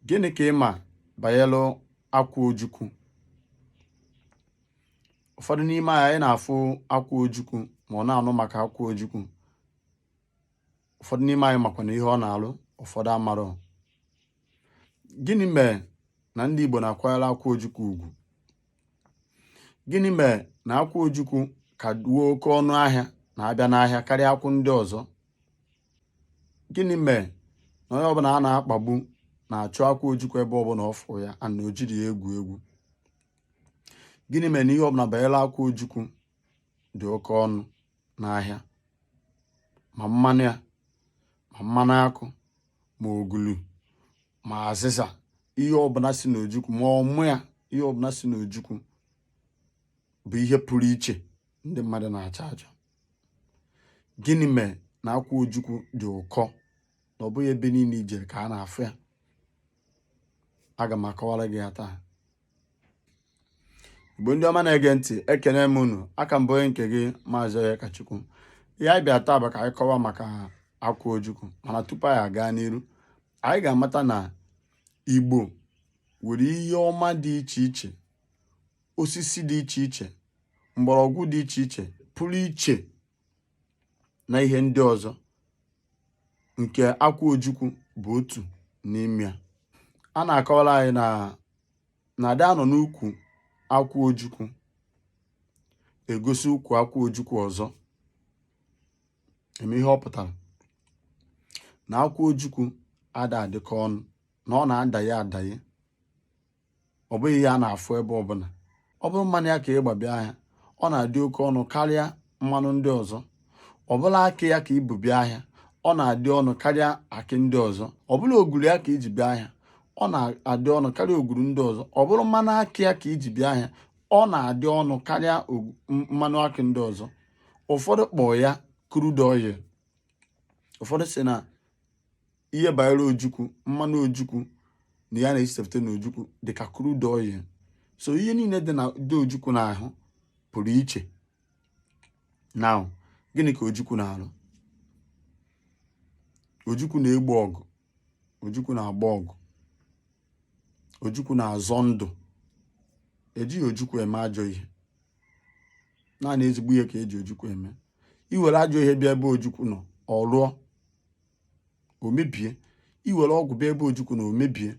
gịnị ka ị ma banyere akwụ ojukwu ụfọdụ n'ime anyị na-afụ akwụ ojukwu ma ọ na-anụ maka akwụ ojukwu ụfọdụ n'ime anyị makwanụ ihe ọ na-alụ ụfọdụ amarọ gịnị mere na ndị Igbo na-akwanyere akwụ ojukwu ugwu gịnị mere na akwụ ojukwu ka nwee oke ọnụ ahịa na-abịa n'ahịa karịa akwụ ndị ọzọ gịnị mere na onye ọbụla a na-akpagbu na-achọ akwụ ojukwu ebe ọbụla ọ fụrụ ya ana o jiri ya egwu egwu gịnị mere na ihe ọbụla banyere akwụ ojukwu dị oke ọnụ n'ahịa ma mmanụ ya ma mmanụ akụ ma ogulu ma azịza ihe ọbụla si n'ojukwu ma ọmụ ya ihe ọbụla si n'ojukwu bụ ihe pụrụ iche ndị mmadụ na-achọ achọ gịnị mere na akwụ ojukwu dị ụkọ na ọ bụghị ebe niile i jere ka a na-afụ ya aga m akọwara gị ya taa igbo ndị ọma na-ege ntị ekene m unu aka m bụ onye nke gị maazị Onyekachukwu ihe anyị bịa taa bụ ka anyị kọwa maka akwụ ojukwu mana tupu anyị aga n'iru anyị ga-amata na igbo nwere ihe ọma dị iche iche osisi dị iche iche mgbọrọgwụ dị iche iche pụrụ iche na ihe ndị ọzọ nke akwụ ojukwu bụ otu n'ime ya a na-akọwara anyị na ada anọ n'ukwu akwụ ojukwu egosi ukwu akwụ ojukwu ọzọ eme ihe ọ pụtara na akwụ ojukwu ada adịkọ ọnụ na ọ na-adaghị adaghị ọ bụghị ihe a na-afụ ebe ọbụla ọ bụrụ mmanụ ya ka ị gba bịa ahịa ọ na-adị oke ọnụ karịa mmanụ ndị ọzọ ọ bụla akị ya ka i bu bịa ahịa ọ na-adị ọnụ karịa akị ndị ọzọ ọ bụla oguru ya ka i ji bịa ahịa ọ na-adị ọnụ karịa oguru ndị ọzọ ọ bụrụ mmanụ akị ya ka i ji bịa ahịa ọ na-adị ọnụ karịa mmanụ akị ndị ọzọ ụfọdụ kpọọ ya crude oil ụfọdụ si na ihe banyere ojukwu mmanụ ojukwu na ya na-esepụta na ojukwu dị ka crude oil so ihe niile dị ojukwu n'ahụ pụrụ iche na gịnị ka ojukwu na-arụ ojukwu na-egbo ọgụ ojukwu na-agba ọgụ ojukwu na-azọ ndụ ejighị ojukwu eme ajọ ihe naanị ezigbo ihe ka eji ojukwu eme i were ajọ ihe bịa ebe ojukwu nọ ọ rụọ o mebie iwere ọgwụ bịa ebe ojukwu nọ o mebie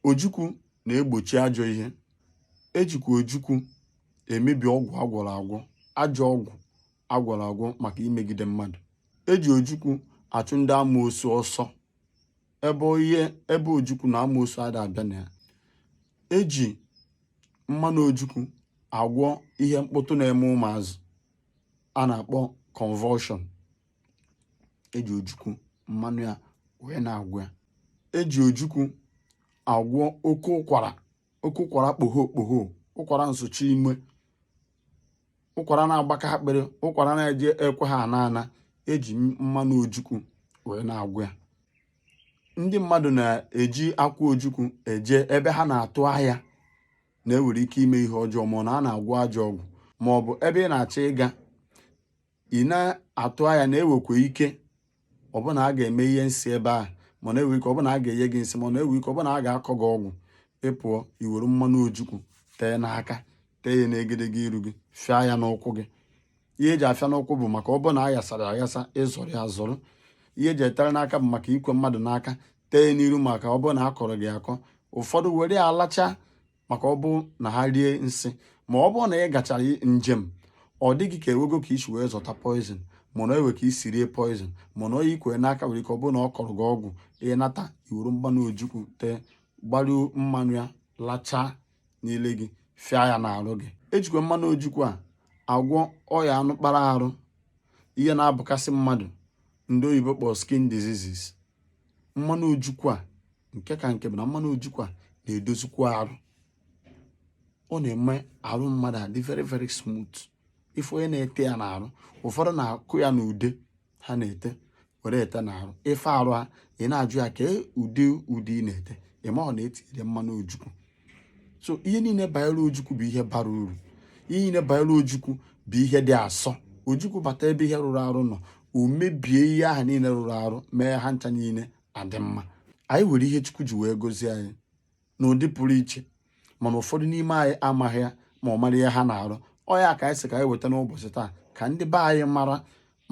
ojukwu na-egbochi ajọ ihe ejikwa ojukwu emebi ọgwụ agwọrọ agwọ ajọ ọgwụ agwọrọ agwọ maka imegide mmadụ eji ojukwu achụ ndị amoosu ọsọ ebe ihe ebe ojukwu nọ amoosu ada abịa na ya eji mmanụ ojukwu agwọ ihe mkpụtụ na-eme ụmụazị a na-akpọ convulsion eji ojukwu mmanụ ya wee na-agwọ ya eji ojukwu agwọ oke ụkwara oke ụkwara kpogho kpogho ụkwara nsuchi ume ụkwara na-agbaka akpịrị ụkwara na-eje ekwe ha ana ana eji mmanụ ojukwu wee na-agwọ ya ndị mmadụ na-eji akwụ ojukwu eje ebe ha na-atụ anya na e nwere ike ime ihe ọjọọ ma ọ na a na-agwọ ajọ ọgwụ ma ọ bụ ebe ị na-achọ ịga ị na-atụ anya na e nwekwa ike ọ bụ na a ga-eme ihe nsị ebe ahụ mana e nwee ike ọ bụ na a ga-enye gị nsị mana e nwee ike ọ bụ na a ga-akọ gị ọgwụ ị pụọ i were mmanụ ojukwu tee n'aka tee ya n'egedege iru gị fịa ya n'ụkwụ gị ihe eji afịa n'ụkwụ bụ maka ọ bụ na a ghasara aghasa ị zọrọ ya azọrọ ihe eji etere n'aka bụ maka ikwe mmadụ n'aka tee n'iru maka ọ bụ na a kọrọ gị akọ ụfọdụ were alacha maka ọ bụ na ha rie nsị ma ọ bụrụ na ị gachara njem ọ dị gị ka e nwego ka i si wee zọta poison mana e nwee ka i si rie poison mana onye i kwe n'aka nwere ike ọ bụrụ na ọ kọrọ gị ọgwụ ị nata i wuru mmanụ ojukwu tee gbaruo mmanụ ya lachaa n'ile gị fịa ya n'arụ gị ejikwa mmanụ ojukwu a agwọ ọya anụ kpara arụ ihe na-abụkasị mmadụ ndị oyibo kpọrọ skin diseases mmanụ ojukwu a nke ka nke bụ na mmanụ ojukwu na-edozikwa arụ ọ na-eme arụ mmadụ adị very very smooth ị fụ onye na-ete ya n'arụ ụfọdụ na-akụ ya n'ude ha na-ete were ete n'arụ ị fụ arụ ya ị na-ajụ ya kee ụdị ude ị na-ete ị ma ọ na e tinyere mmanụ ojukwu so ihe niile banyere ojukwu bụ ihe bara uru ihe niile banyere ojukwu bụ ihe dị asọ ojukwu bata ebe ihe rụrụ arụ nọ o mebie ihe ahụ niile rụrụ arụ mee ha ncha niile adị mma anyị nwere ihe Chukwu ji wee gozie anyị n'ụdị pụrụ iche mana ụfọdụ n'ime anyị amaghị ya ma ọ mara ihe ha na-arụ ọ ya ka anyị sị ka anyị weta n'ụbọchị taa ka ndị be anyị mara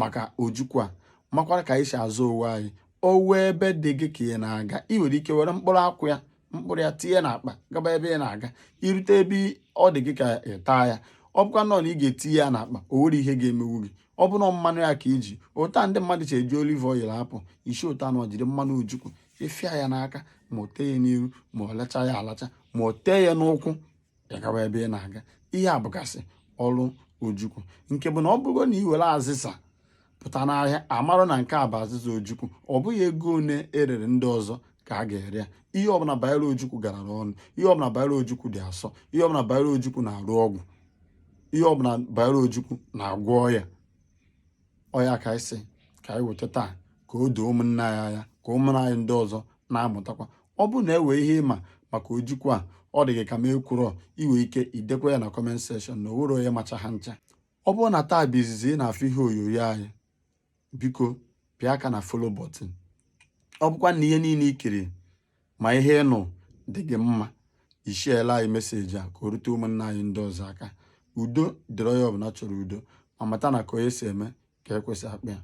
maka ojukwu a makwara ka anyị si azọ onwe anyị o nwee ebe dị gị ka ị na-aga ị nwere ike were mkpụrụ akwụ ya mkpụrụ ya tinye n'akpa gaba ebe ị na-aga i rute ebe ọ dị gị ka ị taa ya ọ bụkwanụ na ị ga-etinye ya n'akpa o nwere ihe ga-emewu gị ọ bụrụ mmanụ ya ka i ji otu a ndị mmadụ si eji olive oil apụ i si otu a nwa jiri mmanụ ojukwu ị fịa ya n'aka ma o tee ya n'iru ma ọ lacha ya alacha ma o tee ya n'ụkwụ gị agawa ebe ị na-aga ihe a bụgasị ọrụ ojukwu nke bụ na ọ bụrụ na ị were azịza pụta n'ahịa a marụ na nke a bụ azịza ojukwu ọ bụghị ego one e rere ndị ọzọ ka a ga-ere ya ihe ọbụla banyere ojukwu garara ọnụ ihe ọbụla banyere ojukwu dị asọ ihe ọbụla banyere ojukwu na-arụ ọgwụ ihe ọbụla banyere ojukwu na-agwọ ọya ọ ya ka anyị sị ka anyị weta taa ka o doo ụmụnna anyị anya ka ụmụnna anyị ndị ọzọ na-amụtakwa ọ bụrụ na e nwee ihe ị ma maka ojukwu a ọ dị gị ka m ekwurọ i nwe ike idekwa ya na comment section na o nwerọ onye macha ha ncha ọ bụrụ na taa bụ izizi ị na-afụ ihe onyonyo anyị biko pịa aka na follow button ọ bụkwa na ihe niile i kiri ma ihe ị nụ dị gị mma ị sharela anyị message a ka o rute ụmụnna anyị ndị ọzọ aka udo dịrị onye ọbụla chọrọ udo ma mata na ka onye si eme ka ekwe si akpọ ya